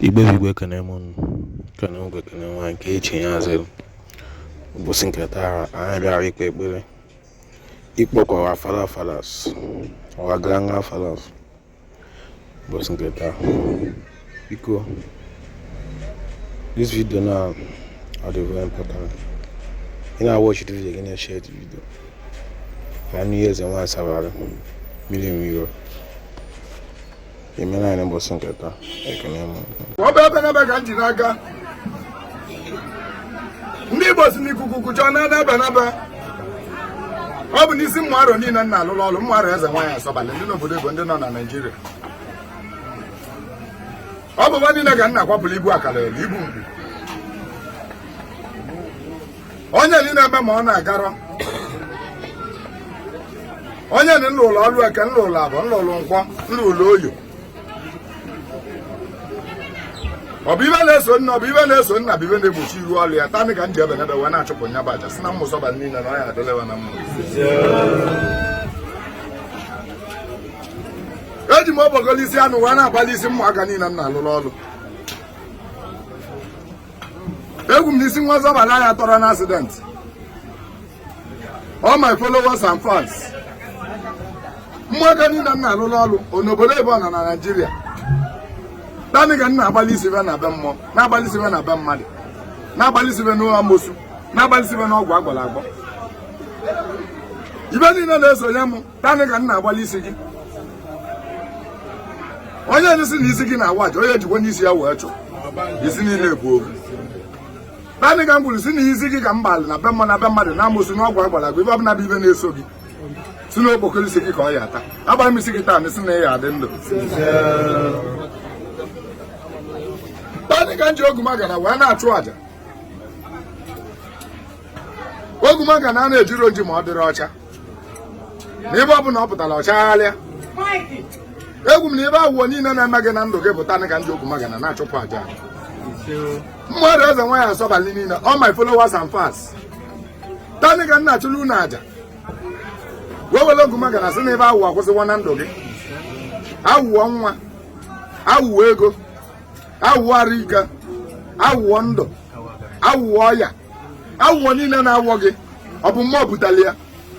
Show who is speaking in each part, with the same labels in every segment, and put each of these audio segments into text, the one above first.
Speaker 1: Igbo bụ Igbo ekene m unu ekene nwoke ekene nwaanyị nke chi ya azịrị ụbọsị nke taa anyị bịara ikpe ekpere ikpọku our father fathers our grandfathers ụbọsị nke taa biko this video na ọ dị very important ị na-awatch the video gị na-eshare the video ka a nụ ihe eze nwaanyị sabara mmiri mmiri emere anyị mbọsị nke taa ekene m ọ bụ ebenebe ka m ji n'aka ndị Igbo sị na ikuku kujọọ ọ naa n'ebenebe ọ bụ n'isi ụmụ arọ niile m na-alụlụ ọlụ ụmụ arọ eze nwaanyị asọbalị ndị nọ obodo oyibo ndị nọ na Naịjirịa ọ bụ wa niile ka m na-akwapụlụ ibu akara ibu mgbu onye ni na-eme ma ọ na-agarọ onye ni na-alụ ọlụ eke na-alụ afọ na-alụ nkwọ na-alụ oye ọ bụ ive na-eso nne ọ bụ ive na-eso nna ọ bụ ive na-egbochi iru ọlụ ya taa nị ka m ji ebenebe wee na-achụpụ nya bụ aja sị na ụmụ sọba niile na ọ ya adịlị wa na mma eji m abụba ogilisi anọ wee na-agbalụ isi ụmụaka niile m na-alụrụ ọlụ ekwu m na isi nwa sọbalị ya atọrọ na accident all my followers and fans ụmụaka niile m na-alụrụ ọrụ ọ nọ obodo oyibo ọ nọ na Naịjirịa taa nị ka m na-agbalụ isi ve na be mmụọ na-agbalụ isi ve na be mmadụ na-agbalụ isi ve n'amosu na-agbalụ isi ve n'ọgwụ agwọlụ agwọ ive niile na-esonye m taa nị ka m na-agbalụ isi gị onye sị na isi gị na-awa aja onye jikwa n'isi ya wee chụ isi niile bụ ofu taa nị ka m kwuru sị na isi gị ka m gbalụ na be mmụọ na be mmadụ na amosu n'ọgwụ agwọlụ agwọ ive ọbụla bụ ive na-eso gị sị na okpokoro isi gị ka ọ ya ata agbara m isi gị taa nị sị na ị ya adị ndụ taa nị ka m ji ogumagana wee na-achụ aja ogumagana a na ejirọ oji ma ọ dịrọ ọcha na ebe ọbụla ọ pụtara ọ chagharịa ekwu m na ive awụwọ niile na-eme gị na ndụ gị ọ bụ taa ka m ji ogumagana na-achụpụ aja ụmụ arọ eze nwaanyị asọbalị niile all my followers and fans taa nị ka m na-achụlụ unu aja wee were ogumagana sị na ive awụwọ akwụsịwo na ndụ gị awụwọ nwa awụwọ ego awụwọ arụike awụwọ ndụ awụwọ ọya awụwọ niile na-awọ gị ọ bụ mmụọ butali ya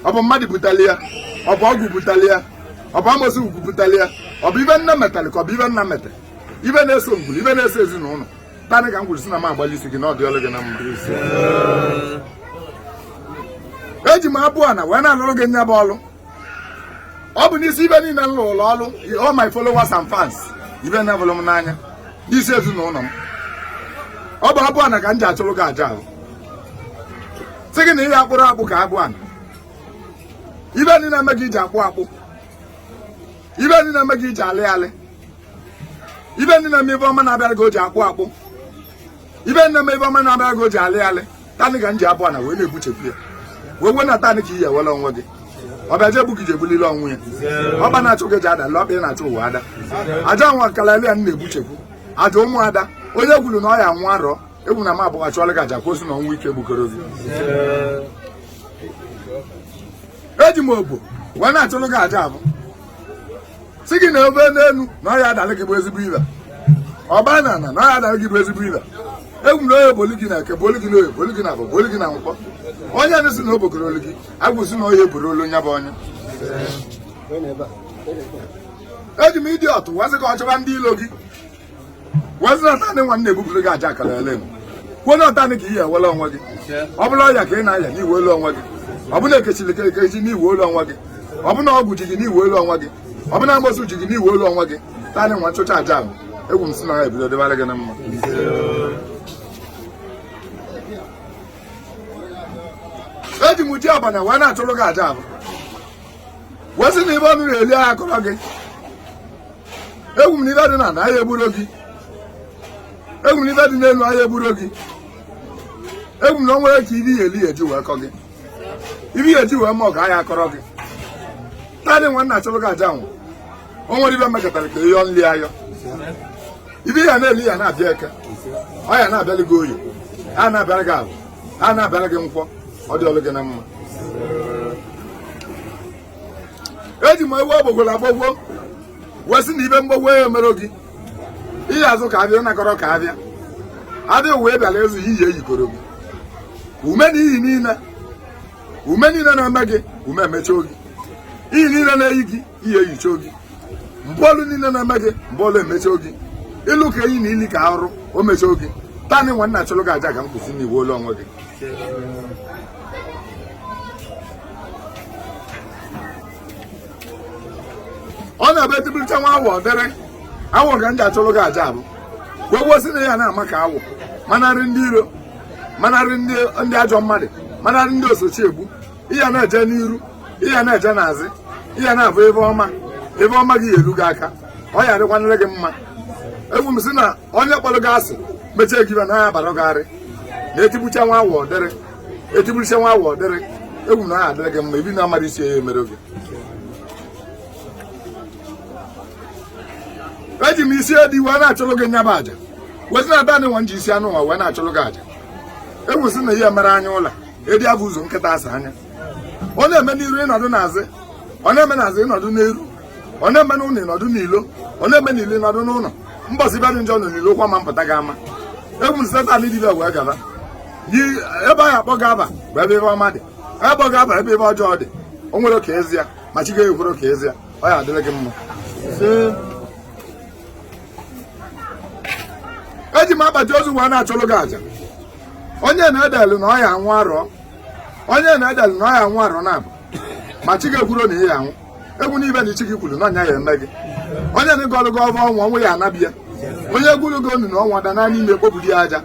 Speaker 1: ọ bụ mmadụ butali ya ọ bụ ọgwụ butali ya ọ bụ amosu butali ya ọ bụ ive nna metali ka ọ bụ ive nne mete ive na-eso ngwuru ive na-eso ezinụlọ taa nị ka m kwuru sị na m agbalụ isi gị na ọ dịlị gị na mma eji m abụọ na wee na-alụrụ gị nya bụ ọlụ ọ bụ n'isi ive niile m rụrụ ọrụ all my followers and fans ndị vụrụ m n'anya n'isi ezinụlọ m ọ bụ abụ ana ka m ji achụrụ gị aja ahụ sị gị na ịya akpụrụ akpụ ka abụ ana ive niile eme gị i ji akpụ akpụ ive niile eme gị i ji alị alị ive niile eme ive ọma na-abịara gị o ji akpụ akpụ ive niile eme ive ọma na-abịara gị o ji alị alị taanị ka m ji abụ ana wee na-ebuchekwu ya wee wee na taanị ka i ye-enwela onwe gị ọbịa je gbu gị ji egbulile onwe ya ọkpa na-achụ gị ji ada le ọkpa ị na-achụ nwe ada aja nwa kalali ya na-ebuchekwu aja ụmụada onye kwuru na ọ ya nwa arọ egwu na m abụghị achụọla gị aja kwuo sị na ọnwụ ike egbukọrọ gị eji m obo wee na-achụrụ gị aja avụ sị gị na ove n'enu na ọya adalị gị bụ ezigbo ive ọgba n'ana na ọya adalị gị bụ ezigbo ive ekwu m na onye boli gị na eke boli gị na oye boli gị na avọ boli gị na nkwọ onye na-asị na o bugoro olu gị a kwuo sị na o ye-eburu olu nya bụ onye eji m ịdị ọtụ wee sị ka ọ chọva ndị ilo gị wee sị na taanị nwa na-ebupụrụ gị aja akara ele kwuona ọ taanị ka i ye-enwelu onwe gị ọ bụlụ ọya ka ị na-aya na i nwelu onwe gị ọ bụlụ ekechiri ka ekechi na i nwelu onwe gị ọ bụlụ ọgwụ ji gị na i nwelu onwe gị ọ bụlụ mgbosu ji gị na i nwelu onwe gị taanị nwa m chụcha aja ahụ ekwu m sị na ha ebido dịbara gị na mma eji m ji abụ ana wee na-achụrụ gị aja ahụ wee sị na ive ọnụ ye-eli aya kọrọ gị ekwu m na ive dị n'ana aya egburo gị ekwu m na ive dị n'enu aya egburo gị ekwu m na o nwere ka ive i ye-eli eji wee kọ gị ive eji wee ma ọga aya kọrọ gị taanị nwa na-achụrụ gị aja nwa o nwere ive mekọtara ka ị yọ nri ayọ ive ịya na-eli ya na-abịa eke ọ ya na-abịalị gị oye a na-abịara gị avọ a na-abịara gị nkwọ ọ dịlụ gị na mma eji m ewu agbogworo agbogwo wee sị na ive mgbogwo ya emere gị ịya azụ ka avịa nakọrọ ka avịa adịghị wee bịara ezu ihe iyi eyikoro gị ume na iyi niile ume niile na-eme gị ume emecha oge iyi niile na-eyi gị iyi eyicha oge mgbaolu niile na-eme gị mgbaolu emecha oge ịlụ ka enyi na ili ka arụrụ emecha oge taanị nwa na-achụrụ gị aja ka m kwuo sị na i nwelu onwe gị ọ na-ebe tibiricha nwa awọ dịrị awọ ka m ji achụrụ gị aja avụ wee kwuo sị na ịya na-ama ka awọ manarị ndị iro manarị ndị ajọ mmadụ manarị ndị osochi egbu ịya na-eje n'iru ịya na-eje n'azị ịya na-avụ ive ọma ive ọma gị ye-elu gị aka ọ ya adịkwanere gị mma ekwu m sị na onye kpọrọ gị asị mechie gị ibe na ya bara gị na etigbucha nwa awọ dịrị etigbucha nwa awọ dịrị egwu na ọ ya adịrị gị mma ive na amara isi ya emere oge eji m isi edi wee na-achụrụ gị nya bụ aja wee sị na ada nwa m ji isi anụ ụwa wee na-achụrụ gị aja wee sị na ihe mere anya ụla edi abụ ụzọ nkịta asa anya ọ na-eme n'iru ị nọdụ n'azụ ọ na-eme n'azụ ị nọdụ n'iru ọ na-eme n'ụlọ ị nọdụ n'ilo ọ na-eme n'ilo ị nọdụ n'ụlọ mbọsị ive dị njọ nọ n'ilo kwa ma mpụta gị ama egwu nseta ndị dibia wee gaba yi ebe anyị akpọ gaba bụ ebe ive ọma dị ebe ọ gaba ebe ive ọjọọ dị o nwere ka ezi ya ma chi gaghị ekwere ka ezi ya ọ ya adịrị gị mma eji m akpati ozu wee na-achụlụ gị aja onye na-edelu na ọ ya anwụ arọ onye na-edelu na ọ ya anwụ arọ na-abụ ma chi gị ekwuro na ị ya anwụ e kwu n'ive na chi gị kwuru na ọ ya eme gị onye na-agọrụ gị ọvọ ọnwụ ọnwụ ya anabi ya onye gwuru gị onu na onwe ya daa n'ime ekpoburu ya aja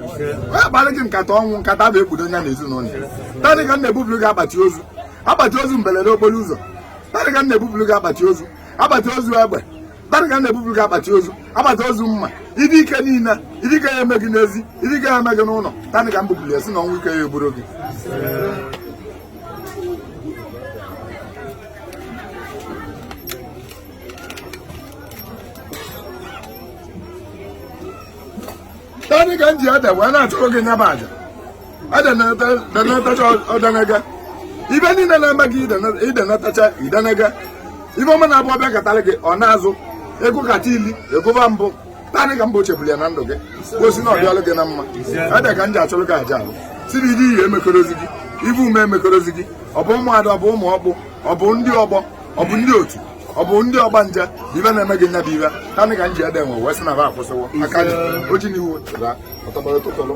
Speaker 1: onye kpara gị nkata ọnwụ nkata bụ ekpudo ya na ezinụlọ ya tanị ka m na-ebupụrụ gị akpati ozu akpati ozu mberede okporo ụzọ tanị ka m na-ebupụrụ gị akpati ozu akpati ozu egbe tanị ka m na-ebupụrụ gị akpati ozu akpati ozu mma ive ike niile ive ike ya eme gị n'ezi ive ike ya eme gị n'ụlọ tanị ka m bupụrụ ya sị na ọnwụ ike ya egburo gị Tanị ka m ji ede wee na-achụrụ gị nya bụ aja ede na-atacha ọdanaga ive niile na-eme gị idenatacha idenega ive ọma na-abụ ọ bịakatara gị ọ naa azụ ego kata ili egoba mbụ tanị ka m kpochapụrụ ya na ndụ gị sị na ọ dịlị gị na mma ede ka m ji achụrụ gị aja ahụ sị na iri ihe ama akọrọzi gị ive ọma ama akọrọzi gị ọ bụ ụmụada ọ bụ ụmụ ọkpụ ọ bụ ndị ọgbọ ọ bụ ndị otu ọ bụ ndị ọgbanje ive na-eme gị nya bụ ive tanị ka m ji ede nwa wee sị na va akwụsịwo aka ji o ji n'ihu chụra ọtọgbara tụtụrụ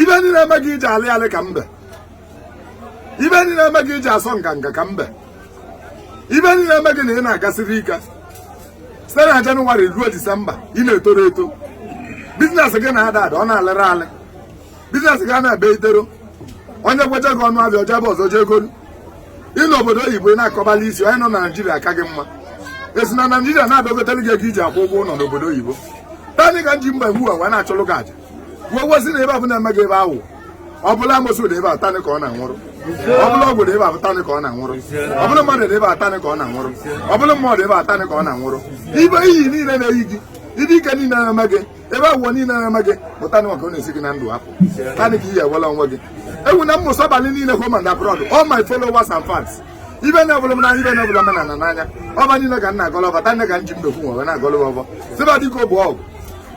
Speaker 1: ive niile na-eme gị i ji alị alị ka mbe ive niile na-eme gị i ji asọ nganga ka mbe ive niile na-eme gị na ị na-agasịrị ike site na jenụwarị ruo disemba ị na-etoro eto biznes gị na-ada ada ọ na-alịrị alị biznes gị a na-ebe itero onye kwecha gị ọnụ avịa o jee ebe ọzọ jee golu ị nọ n'obodo oyibo ị na-akọbala isi onye nọ na naijiria aka gị mma e si na naijiria na-adọgotara gị ego i ji akwụ ụgwọ ụlọ n'obodo oyibo tanị ka m ji mbe nwa wee na-achụlụ gị aja wee sị na ive ọbụla eme gị ive ahụ ọ bụrụ amosu na-eme ya tanị ka ọ na-anwụrụ ọ bụrụ ọgwụ na-eme ya tanị ka ọ na-anwụrụ ọ bụrụ mmadụ na-eme ya tanị ka ọ na-anwụrụ ọ bụrụ mmadụ eme ya tanị ka ọ na-anwụrụ ive iyi niile na-eyi gị ive ike niile na-eme gị ife afụ niile na-eme gị pụta na maka ọ na-esi gị na ndụ apụ tanị ka ị ya-enwelu onwe gị ekwu na mmụsọ abalị niile home and abroad all my followers and fans ibe na-ebụla m n'anya ibe na-ebụla m na na n'anya ọfọ niile ka m na-agọlọ ọfọ tanị ka m ji mmekwu nwe wee na-agọlọ m ọfọ sị fa dịka bụ ọgwụ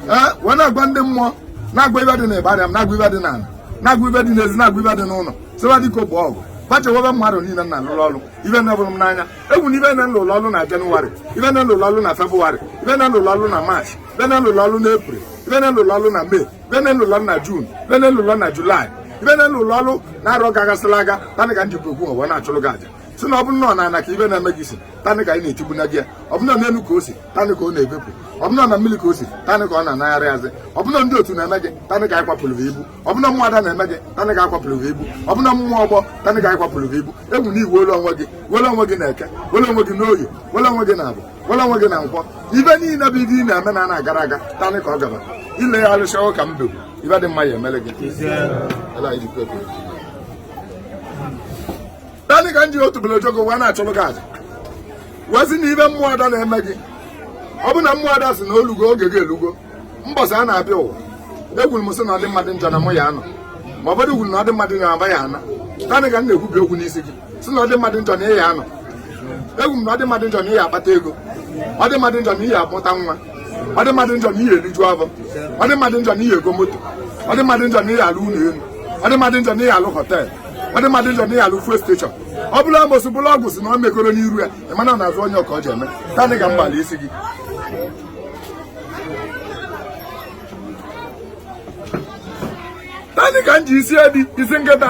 Speaker 1: ee wee na-agwa ndị mmụọ na-agwa ife dị na ịbarịa m na-agwa ife dị na ala na-agwa ife dị n'ezi na-agwa ife dị n'ụlọ sị fa dịka bụ ọgwụ gbachewebe mmadụ niile na alụrụ ọrụ ibe na-ebụrụ m n'anya ekwu na ife na-elụlụ ọlụ na jenụwarị ife na-elụlụ ọlụ na febụwarị ife na-elụlụ ọlụ na maachị ife na-elụlụ ọlụ na epril ife na-elụlụ ọlụ na mee ife na-elụlụ ọlụ na jun ife na-elụlụ ọlụ na julaị ife na-elụlụ ọlụ n'arọ gagasịla aga tanị ka m jikwa okwu ụwa na-achụrụ gị aja si na ọ bụrụ na n'ana ka ife na-eme gị si tanị ka ị na-etigbu na gị ya ọ bụrụ na n'elu ka o si tanị ka ọ na-efepụ ọ bụrụ na mmiri ka o si tanị ka ọ na-anaghachi azụ ọ bụrụ na ndị otu na-eme gị tanị ka akwapụrụ gị ibu ọ bụrụ na mmụọ ada na-eme gị tanị ka akwapụrụ gị ibu ọ bụrụ na mmụọ ọgbọ tanị ka akwapụrụ gị ibu ekwu na i nwelu onwe gị nwere onwe gị n'eke nwere onwe gị n'oye nwere onwe gị na afọ nwere onwe gị na nkwọ ife niile bụ ife ị na-eme na ana agara aga tanị ka ọ gaba ile ya alụsị ọrụ ka m dogo ife dị mma ya emere gị tanị ka m ji otu bele ojogo wee na-achụrụ gị aja wee sị na ife mmụọ ada na-eme gị ọ bụ na mmụọ ada si na o lugo oge gị elugo mbọsị a na-abịa ụwa ekwuru m sị na ọ dị mmadụ njọ na mụ ya anọ ma ọ bụrụ kwuru na ọ dị mmadụ na-aba ya ana tanị ka m na-ekwubi okwu n'isi gị si na ọ dị mmadụ njọ na ị ya-anọ ekwu m na ọ dị mmadụ njọ na ị ya-akpata ego ọ dị mmadụ njọ na ị ya-amụta nwa ọ dị mmadụ njọ na ị ya-eliju afọ ọ dị mmadụ njọ na ị ya-ego moto ọ dị mmadụ njọ na ị ya-alụ ụnọ enu ọ dị mmadụ njọ na ị ya-alụ họteelụ ọ dị mmadụ njọ na ị ya-alụ fuel steshọn ọ bụlụ amosu bụlụ ọgwụ si na o megoro n'iru ya ị mana n'azụ onye ọka o ji eme tanị ka m gbala isi gị tanị ka m ji isi edi isi nkịta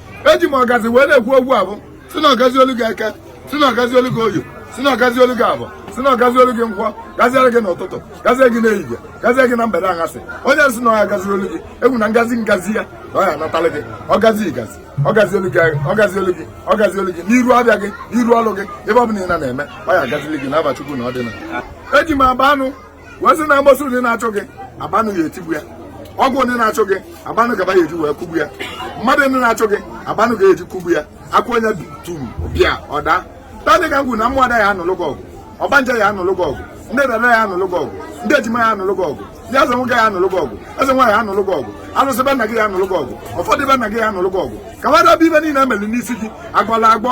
Speaker 1: eji m ọgazi wee na-ekwu okwu afụ si na ọ gazielu gị eke si na ọ gazielu gị oye si na ọ gazielu gị afọ si na ọ gazielu gị nkwọ gaziere gị n'ụtụtụ gazie gị n'ehihie gazie gị na mgbede aghasị onye si na ọ ya-agaziri olu gị ekwu na ngazi ngazi ya na ọ ya-anatalị gị ọgazi igazi ọ gazielu gị ọ gazielu gị ọ gazielu gị n'iru afịa gị n'iru ọrụ gị ebe ọ bụla ị nọ na-eme ọ ya-agazili gị n'afa chukwu na ọ dị na eji m agba anụ wee si na amosu onye na-achụ gị agba anụ ya etigbu ya ọgwụ onye na-achụ gị agba anụ ka fa ya-eji wee kụgbu ya mmadụ onye na-achụ gị agba anụ ga-eji kụgbu ya akwa onye tum bịa ọda tanị ka m kwuru na mmụọ ada ya anụlụ gị ọgụ ọgbanje ya anụlụ gị ọgụ ndị dada ya anụlụ gị ọgụ ndị ejima ya anụlụ gị ọgụ ndị eze nwoke ya anụlụ gị ọgụ eze nwaanyị ya anụlụ gị ọgụ alụsị be nna gị ya anụlụ gị ọgụ ọfọ dị be nna gị ya anụlụ gị ọgụ ka nwadebe ife niile emeli n'isi gị agwala agwọ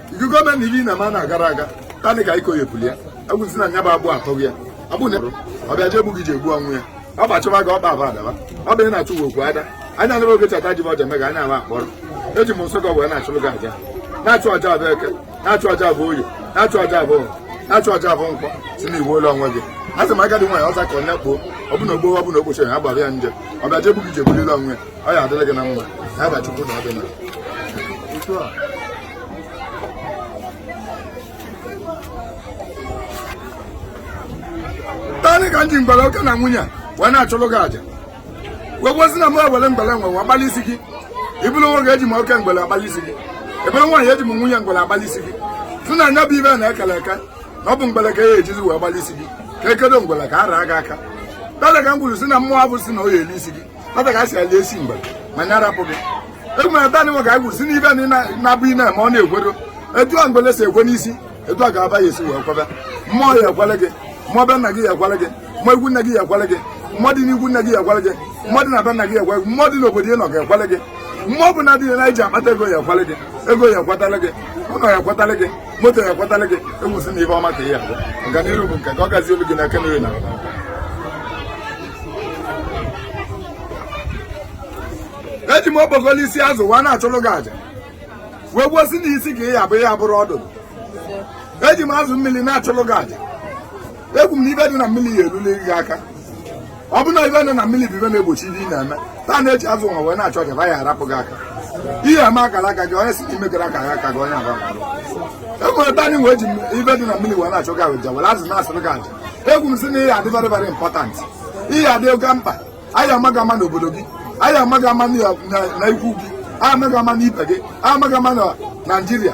Speaker 1: gọọmenti iri na mana gara aga tanị ka iko yepụli ya agwụzi na nya bụ agbụ atọ gị ya agbụ na ọ bịa jee gị ji egbu onwe ya ọ bụ achụba gị ọkpa aba adaba ọ bụ ị na-achụ gị okwu ada anya nebe oge chata ji ọja mega anya ama akpọrọ eji m nsọ gị wee na-achụrụ gị aja na-achụ aja abụ eke na-achụ aja abụ oye na-achụ aja abụ afọ na-achụ aja abụ nkwọ si na i nwelu onwe gị a sị m agadi nwaanyị ọza ka onye kpoo ọ bụ na ogbo ọ bụ na okpochi ya gbara ya nje ọ bịa jee gị ji ebulile onwe ọ ya adịrị gị na mma ya bịa chukwu na ọdịna tanị ka m ji mgbele oke na nwunye wee na-achụlụ gị aja wee kwuo si na m ewere mgbele nwa wee agbalị isi gị ị bụrụ nwoke eji m oke mgbele agbalị isi gị ị bụrụ nwaanyị eji m nwunye mgbele agbalị isi gị si na nya bụ ive na-ekele eke na ọ bụ mgbele ka ya ejizi wee gbalị isi gị ka e kedo mgbele ka a raa gị aka tanị ka m kwuru si na mmụọ avụ si na ọ ya eli isi gị nwata ka a si eli isi mgbele nya rapụ gị egwumere taa nwa ka anyị kwuru si na ive niine avụ ị na-eme ọ na-ekwero etu a mgbele si ekwe n'isi etu a ga-aba ya esi wee kwebe mmụọ ya ekwele gị mmụọ be nna gị ya ekwele gị mmụọ ikwu nne gị ya ekwele gị mmụọ dị n'ikwu nne gị ya ekwele gị mmụọ dị na be nna gị ya ekwele gị mmụọ dị n'obodo ị nọ ya ekwele gị mmụọ ọbụna dị na iji akpata ego ya ekwele gị ego ya ekwetala gị ụlọ ya ekwetala gị moto ya ekwetara gị enwesị na ive ọma ka ị ya avụ ọganihu bụ nke ka ọ gazi olu gị na aka nri na eji m okpokolo isi azụ nwa na-achụrụ gị aja wee kwuo si na isi ka ị ya abụ ị ya abụrọ ọdụdụ eji m azụ mmiri na-achụrụ gị aja ekwu m na ive dị na mmiri ya eruli gị aka ọ bụ na ive nọ na mmiri bụ ive na-egbochi ihe ị na-eme taa na-eji azụ nwa wee na-achọ ka ya arapụ gị aka ihe ama akara aka gị onye si ime gara aka ya aka gị onye agba e nwere tanị wee ji ive dị na mmiri wee na-achụrụ gị aja were azụ na-achụrụ gị aja ekwu m si na ị ya adị very very important ị ya adị oke mkpa a ya ama gị ama n'obodo gị a ya ama gị ama na ikwu gị a ya ama gị ama n'ibe gị a ya ama gị ama na naijiria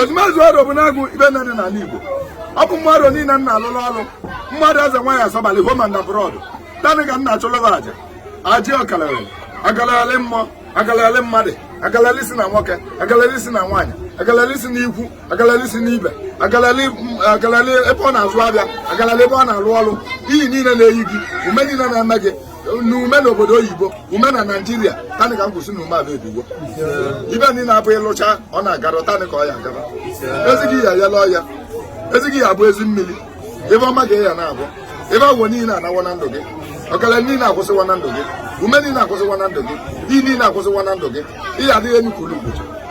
Speaker 1: ezumezu aro bụ na-agụ ive niine dị n'ala Igbo ọ bụ mmadụ niile m na-alụrụ ọrụ mmadụ eze nwaanyị asọbalị home and abroad tanị ka m na-achụlụ gị aja aja ọkalere agalalị mmụọ agalalị mmadụ agalalị si na nwoke agalalị si na nwaanyị agalalị si na ikwu agalalị si na ibe agalalị ebe ọ na-azụ avịa agalalị ebe ọ na-alụ ọrụ iyi niile na-eyi gị ume niile na-eme gị n'ume n'obodo oyibo ume na naijiria tanị ka m kwu si na ume ebebiwo ive niine avụ ị lụcha ọ na-agara tanị ka ọ ya agara ezighị ya yala ọya ezighị ya abụ ezi mmiri ive ọma ka ị ya na-avụ ebe agwọ niile anawa na ndụ gị ọkara niile akwụsịwa na ndụ gị ume niile akwụsịwa na ndụ gị iyi niile akwụsịwa na ndụ gị ị ya adịlị enu ka ugwu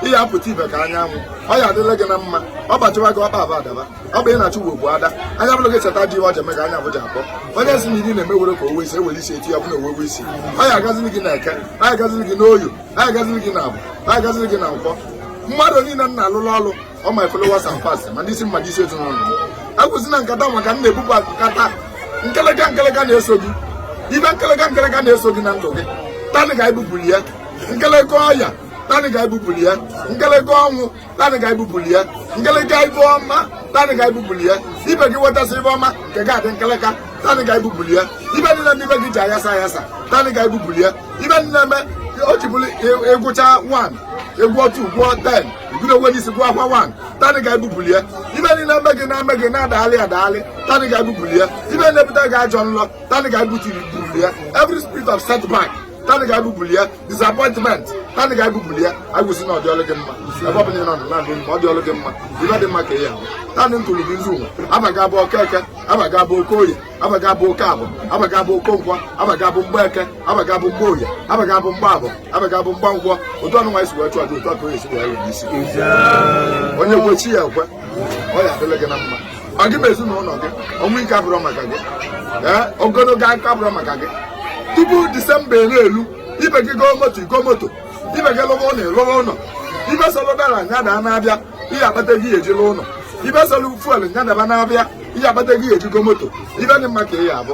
Speaker 1: ị ya apụta ive ka anyanwụ ọ ya adịla gị na mma ọ bụ achụwa gị ọkpa aba adaba ọ bụ ị na-achụ uwe bụ ada anya bụrụ gị cheta dị iwe ọja mega anya bụja akpọ onye si na iri na-emewere ka owe isi ewere isi eti ya bụ na owewe isi anyị agaziri gị na eke anyị agaziri gị n'oye anyị agaziri gị na avọ anyị agaziri gị na nkwọ mmadụ niile m na-alụlụ ọlụ ọ ma followers and fans ma ndị isi mmadụ isi ezinụlọ agwụzi na nkata maka m na-ebupụ nkata nkeleka nkeleka na-eso gị ive nkeleka nkeleka na-eso gị na ndụ gị taa anyị ga-ebupụrụ ya nkeleka ọya taa anyị ga-ebupụrụ ya nkeleka ọnwụ na anyị ga-ebupụli ya nkeleka ive ọma na anyị ga-ebupụli ya ibe gị wetasịa ive ọma nke gị adị nkeleka na anyị ga-ebupụli ya ive niile ndị ive gị ji ayasa ayasa na anyị ga-ebupụli ya ive niile eme o ji bụlụ ị gụchaa 1 gụọ 2 gụọ 10 ị bido onwe n'isi gụwakwa 1 na anyị ga-ebupụli ya ive niile eme gị na-eme gị na-adagharị adagharị na anyị ga-ebupụli ya ive na-ebute gị ajọ nlọ na anyị ga-ebutiri bupụli ya every spirit of setback taa anyị ga-ebupụli ya disappointment taa anyị ga-ebupụli ya agwụ sị na ọ dịlụ gị mma ebe ọbụla ị nọ na na-agụ mma ọ dịlụ gị mma ive dị mma ka ị ya-ahụ taa anyị ntụrụ gị nzu ụwa abaga abụ oke eke abaga abụ oke oye abaga abụ oke avọ abaga abụ oke nkwọ abaga abụ mgba eke abaga abụ mgba oye abaga abụ mgba avọ abaga abụ mgba nkwọ otu ọnụnwa anyị si wee chụọ aja otu aka onye si wee rụrụ isi onye kwe chi ya ekwe ọ ya-adịlị gị na mma ma gị ma ezinụnọ gị ọnwụ ike abụrọ maka gị ee ogonogo aka abụrọ maka gị tupu disemba elu elu ibe gị goo moto ị goo moto ibe gị lụọ ụnọ ị lụọ ụnọ ive sọlụ dollar nya daa na avịa ị ya-akpata ego eji lụọ ụnọ ive sọlụ fuel nya daba na avịa ị ya-akpata ego eji go moto ive dị mma ka ị ya-avụ